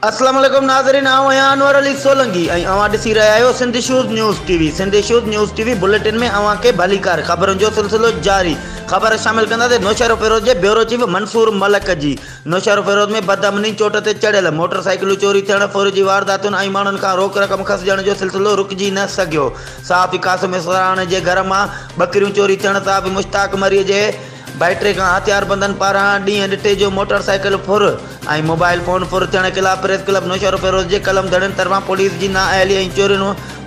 اسلام عليڪم ناظرين آئون آهيان انور علي سولنگي ۽ اوهان ڏسي رهيا آهيو Sindh issues news T V Sindh issues news T V bulletin ۾ اوهان کي ڀليڪار خبرن جو سلسلو جاري خبر شامل ڪنداسين نوشهرو فيروز جي بيورو چيف منصور ملڪ جي نوشهرو فيروز ۾ بدامني چوٽ تي چڙهيل موٽر سائيڪلون چوري ٿيڻ ڦر جي وارداتن ۽ ماڻهن کان روڪ رقم کسجڻ جو سلسلو رڪجي نه سگهيو صحافي قاسم اسفراهاڻي جي گهر مان ٻڪريون چوري ٿيڻ صحافي مشتاق مري جي ڀائٽي کان هٿياربندن پاران ڏينهن ڏٺي جو موٽر سائيڪل ڦر ۽ موبائل فون ڦر ٿيڻ خلاف پريس ڪلب نوشهروفيروز جي قلم ڌڙين طرفان پوليس جي نااهلي ۽ چورين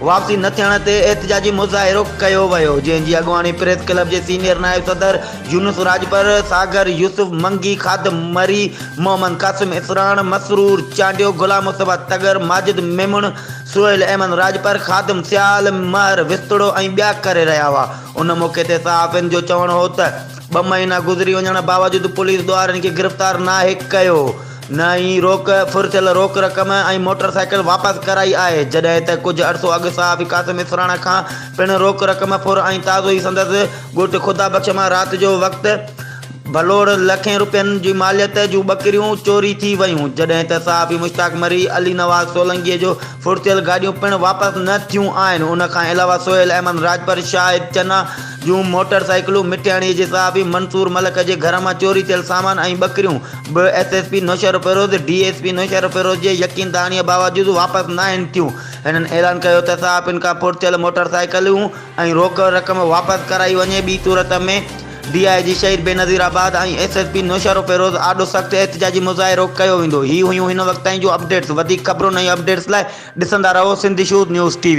واپسي نه ٿيڻ تي احتجاجي مظاهرو ڪيو ويو جنهن جي اڳواڻي پريس ڪلب جي سينيئر نائب صدر يونس راڄپر ساگر يوسف منگي خادم مري محمد قاسم اسفراهاڻ مسرور چانڊيو غلام مصطفيٰ تڳر ماجد ميمڻ سهيل احمد راڄپر، خادم سيال، مهر وسطڙو ۽ ٻيا ڪري رهيا هئا. ان موقعي تي صحافين جو چوڻ هو ته ٻه مهينا گذري وڃڻ باوجود پوليس ڏوهارين کي گرفتار ناهي ڪيو نه ئي روڪ ڦر ٿيل روڪ رقم ۽ موٽر سائيڪل واپس ڪرائي آهي جڏهن ته ڪجهه عرصو اڳ صحافي قاسم اسراڻا کان پڻ روڪ رقم ڦر ۽ تازو ئي سندس ڳوٺ خدا بخش مان رات جو وقت ڀلوڙ، لکين رپين جي ماليت جون ٻڪريون چوري ٿي ويون، جڏهن ته صحافي مشتاق مري، علي نواز سولنگي جو ڦڙتيل گاڏيون پڻ واپس نه ٿيون آهن، ان کان علاوه سهيل احمد راڄپر، شاهد چنا جون موٽر سائيڪلون، مٺياڻي جي صحافي منصور ملڪ جي گهر مان چوري ٿيل سامان ۽ ٻڪريون به S S P Naushahro Feroz, D S P Naushahro Feroz جي يقين دهاڻيء باوجود واپس ناهن ٿيون، هنن اعلان ڪيو ته صحافين کان ڦڙتيل موٽر سائيڪلون ۽ روڪ رقم واپس ڪرائي وڃي، ٻي صورت ۾. D I G Shaheed Benazirabad ۽ S S P Naushahro Feroz آڏو سخت احتجاجي مظاهرو ڪيو ويندو هي هيون هن وقت تائين جون اپڊيٽس وڌيڪ خبرن ۽ اپڊيٽس لاء ڏسندا رهو Sindh issues news T V.